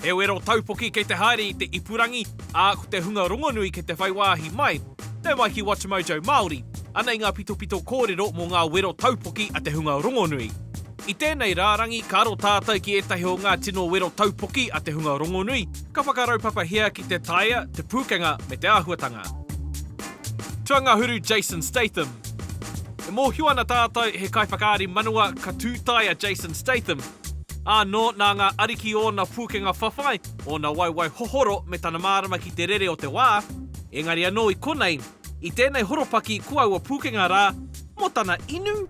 He wero taupoki kei te haere i te ipurangi, ā, ko te hunga rongonui kei te whai wāhi mai. Nau mai ki WatchMojo Māori. Anei ngā pitopito kōrero mō ngā wero taupoki a te hunga rongonui. I tēnei rārangi ka aro tātou ki ētahi o ngā tino wero taupoki a te hunga rongonui, ka whakaraupapahia ki te taea, te pūkenga me te āhuatanga. Tuangahuru Jason Statham E mōhio ana tātou he kaiwhakaari manawa ka tū tae a Jason Statham, ānō nā ngā ariki ōna pūkenga whawhai, ōna waiwai hohoro me tana mārama ki te rere o te wā, engari anō i konei, i tēnei horopaki ko aua pūkenga rā mō tana inu?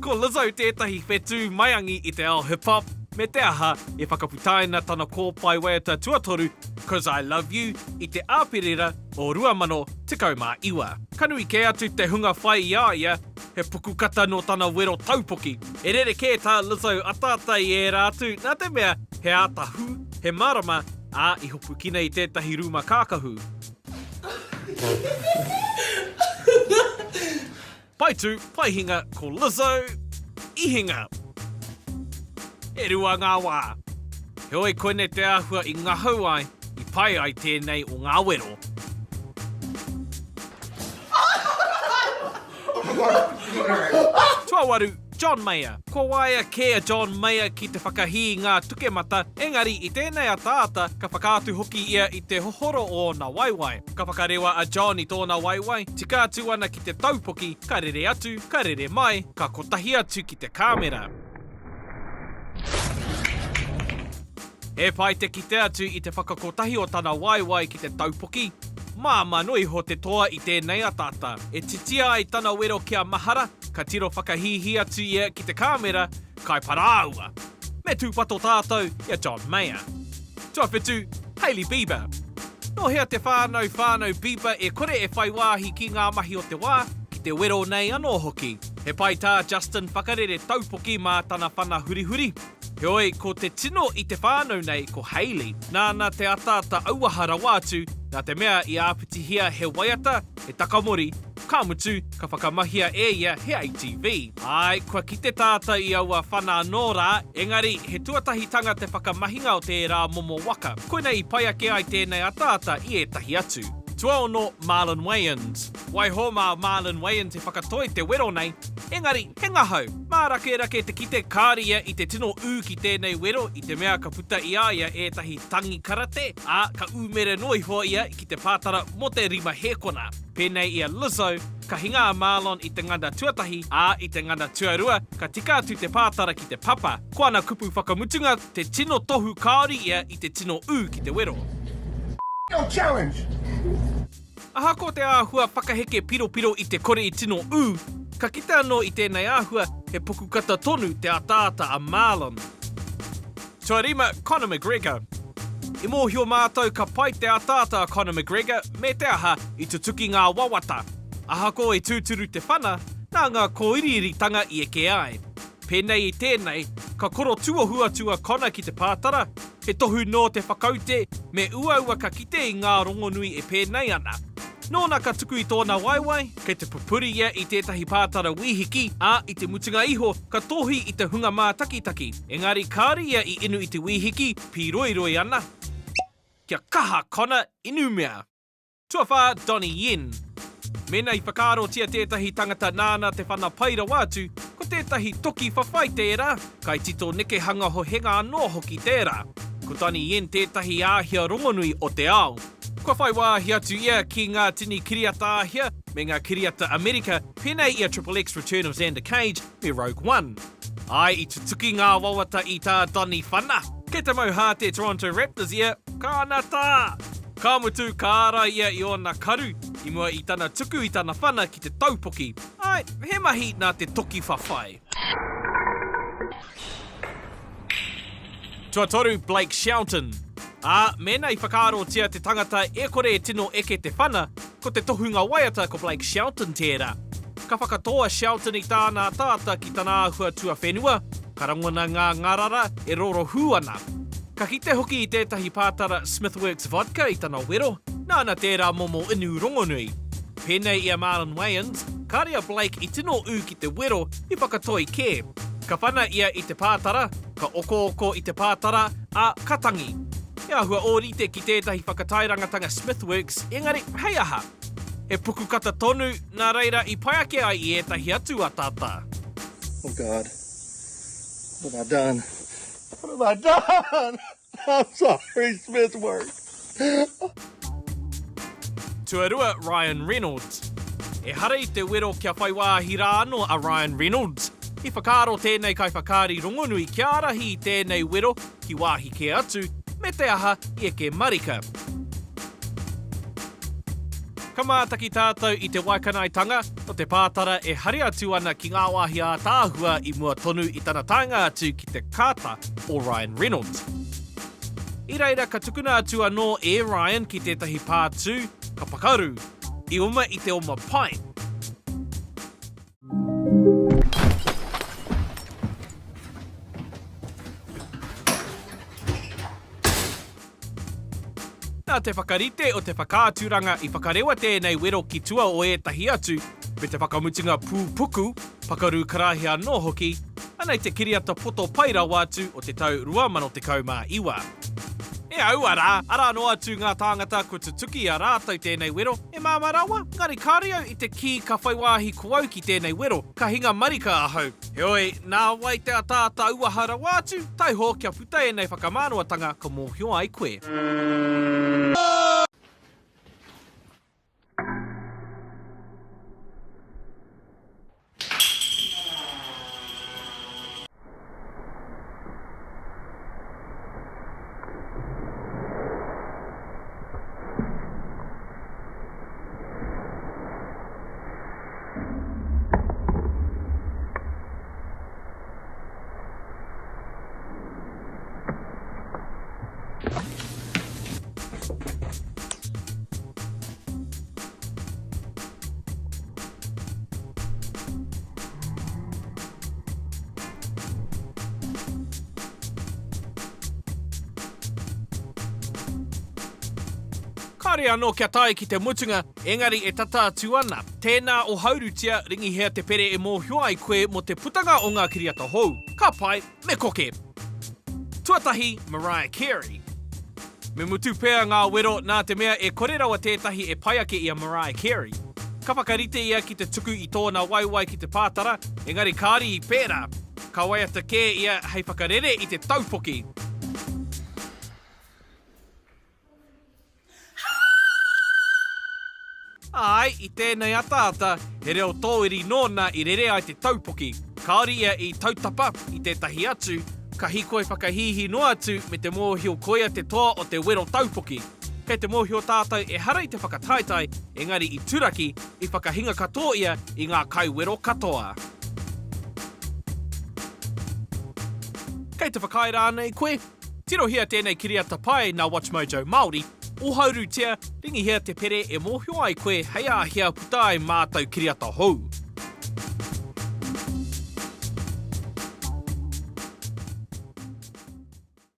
Ko Lizzo tētahi whetū maiangi i te ao hip hop, me te aha, i whakaputaina tana kōpae waiata tuatoru, Cos I Love You, i te Āperira o 2019. Ka nui kē atu te hunga whai i a ia, he pukukata nō tana wero taupoki. He rerekē tā Lizzo ataata i ērā atu, nā te mea he āta hū, he mārama, ā, i hopukina i tētahi rūma kākahu. Pae tū, pae hinga ko Lizzo i hinga. E rua ngā wā. Heoi koinei te āhua i ngahau ai, i pai ai tēnei o ngā wero. Tuawaru, John Mayer. Kua waia kē a John Mayer ki te whakahī i ngā tukemata, engari i tēnei ataata ka whakaatu hoki ia i te hohoro o ōna waewae. Ka whakarewa a John i tōna waewae, tika atu ana ki te taupoki, ka rere atu, ka rere mai, ka kotahi atu ki te kāmera. He pai te kite atu i te whakakotahi o tana waewae ki te taupoki, māmā noa iho te toa i tēnei ataata. E titia ai tana wero kia mahara, ka tiro whakahīhī atu ia ki te kāmera, kai parāoa! Me tūpato tātou i a John Mayer. Tuawhitu, Hailey Bieber. Nō hea te whānau whānau Bieber e kore e whai wāhi ki ngā mahi o te wā, ki te wero nei anō hoki? He pai tā Justin whakarere taupoki mā tana whana hurihuri. Heoi, ko te tino i te whānau nei ko Hayley, nāna te ataata auaha rawa atu, nā te mea i āpitihia he waiata, he takamori, ka mutu, ka whakamahia e ia he ATV. Āe, kua kite tātou i aua whana anō rā, engari, he tuatahitanga te whakamahinga o tērā momo waka, koinei i pai ake ai tēnei ataata i ētahi atu. Tuaono, Marlon Wayans. Waiho mā Marlyn Weyand te whakatoi te wero nei, engari he ngahau, mārakerake te kite kāre ia i te tino ū ki tēnei wero i te mea ka puta i a ia ētahi tangi karate, ā, ka ūmere noa iho ia ki te pātara mō te rima hēkona. Pēnei i a Lizzo, ka hinga a Marlon i te ngana tuatahi, ā, i te ngana tuarua, ka tika atu te pātara ki te papa. Ko ana kupu whakamutunga, te tino tohu kāore ia i te tino ū ki te wero. F**k your challenge! Ahakoa te āhua pakaheke piropiro i te kore i tino ū, ka kite anō i tēnei āhua he pukukata tonu te ataata a Marlon. Tuarima, Conor McGregor. I mōhio mātou ka pai te ataata a Conor McGregor, me te aha, i tutuki ngā wawata. Ahakoa i tūturu te whana, nā ngā kōiriiritanga i eke ai. Pēnei i tēnei, ka koro tuohu atu a Connor ki te pātara, he tohu nō te whakaute me uaua ka kite i ngā rongonui e pēnei ana. Nōna ka tuku i tōna waewae, kei te pupuri ia i tētahi pātara wīhiki, ā, i te mutunga iho ka tohi i te hunga mātakitaki. Engari kāore ia i inu i te wīhiki, pīroiroi ana. Kia kaha Connor inu mea! Tuawhā, Donnie Yen. Mēnā i whakaarotia tētahi tangata nāna te whana pai rawa atu, ko tētahi toki whawhai tērā, kaitito nekehanga hohenga anō hoki tērā. Ko Donnie Yen tētahi āhia rongonui o te ao. Kua whai wāhi atu ia ki ngā tini kiriata Āhia me ngā kiriata Amerika, pēnei i a Triple X, Return of Xander Cage, me Rogue One. Āe i tutuki ngā wawata i tā Donny Whana. Kei te mau hā te Toronto Raptors ia, ka ana tā! Ka mutu, ka ārai ia i ōna karu, i mua i tana tuku i tana whana ki te taupoki. Āe, he mahi nā te toki whawhai. Tuatoru Blake Shelton. Ā, mēnā i whakaarotia te tangata e kore e tino eke te whana, Ko te tohunga waiata ko Blake Shelton tērā. Ka whakatō a Shelton i tāna ataata ki tana āhua tuawhenua, ka rangona ngā ngārara e rorohū ana. Ka kite hoki i tētahi pātara Smithworks Vodka i tana wero, nāna tērā momo inu rongonui. Pēnei i a Marlon Wayans, kāre a Blake i tino ū ki te wero, i whakatoi kē. Ka pana ia i te pātara, Ka okooko i te pātara, ā, ka tangi. He āhua ōrite ki tētahi whakataerangatanga Smithworks, engari, hei aha? He pukukata tonu, nā reira i pai ake ai i ētahi atu ataata. Oh God. What have I done? What have I done? I'm sorry, Smith work. Tuarua, Ryan Reynolds. Ehara i te wero kia whai wāhi rā anō a Ryan Reynolds. I whakaaro tēnei kaiwhakaari rongonui kia ārahi i tēnei wero ki wāhi kē atu, me te aha i eke marika. Ka mātaki tātou i te waikanaetanga, Ko te pātara e hari atu ana ki ngā wāhi ātaahua i mua tonu i tana taenga atu ki te kāta o Ryan Reynolds. I reira ka tukuna atu anō e Ryan ki tētahi pātū, ka pakaru, i oma i te oma pai. Nā te whakarite o te whakaaturanga i whakarewa tēnei wero ki tua o ētahi atu, me te whakamutunga pūpuku, pakaru karaehe anō hoki, ana i te kiriata poto pai rawa atu o te tau 2019. E aua rā, arā noa atu ngā tāngata kua tutuki i a rātou tēnei wero, e māmā rawa, engari kāore au i te kī ka whai wāhi ko au ki tēnei wero, ka hinga marika ahau. Heoi, nā wai te ataata auaha rawa atu, taiho kia. Kei ēnei whakamānawa-tanga ka mōhio ai koe. Kāre anō kia tae ki te mutunga, engari e tata atu ana. Tēnā o Haurutia, Ringihea te pere e mōhio ai koe mō te putanga o ngā kiriata hou. Ka pai, me koke! Tuatahi, Mariah Carey. Me mutu pea ngā wero nā te mea e kore rawa tētahi e pai ake i a Mariah Carey. Ka whakarite ia ki te tuku i tōna waewae ki te pātara, engari kāore i pērā. Ka waiata kē ia hei whakarere i te taupoki. Āe, i tēnei ataata, he reo tōiri nōna i rere ai te taupoki. Kāore ia i tautapa i tētahi atu, ka hīkoi whakahīhī noa atu me te mōhio koia te toa o te wero taupoki. Kei te mōhio tātou ehara i te whakataetae, engari i turaki, i whakahinga katoa ia i ngā kaiwero katoa. Kei te whakaae rānei koe? Tirohia tēnei kiriata pai nā WatchMojo Māori, ohaurutia, ringihia te pere e mōhio ai koe hei a hea puta ai mātou kiriata hou.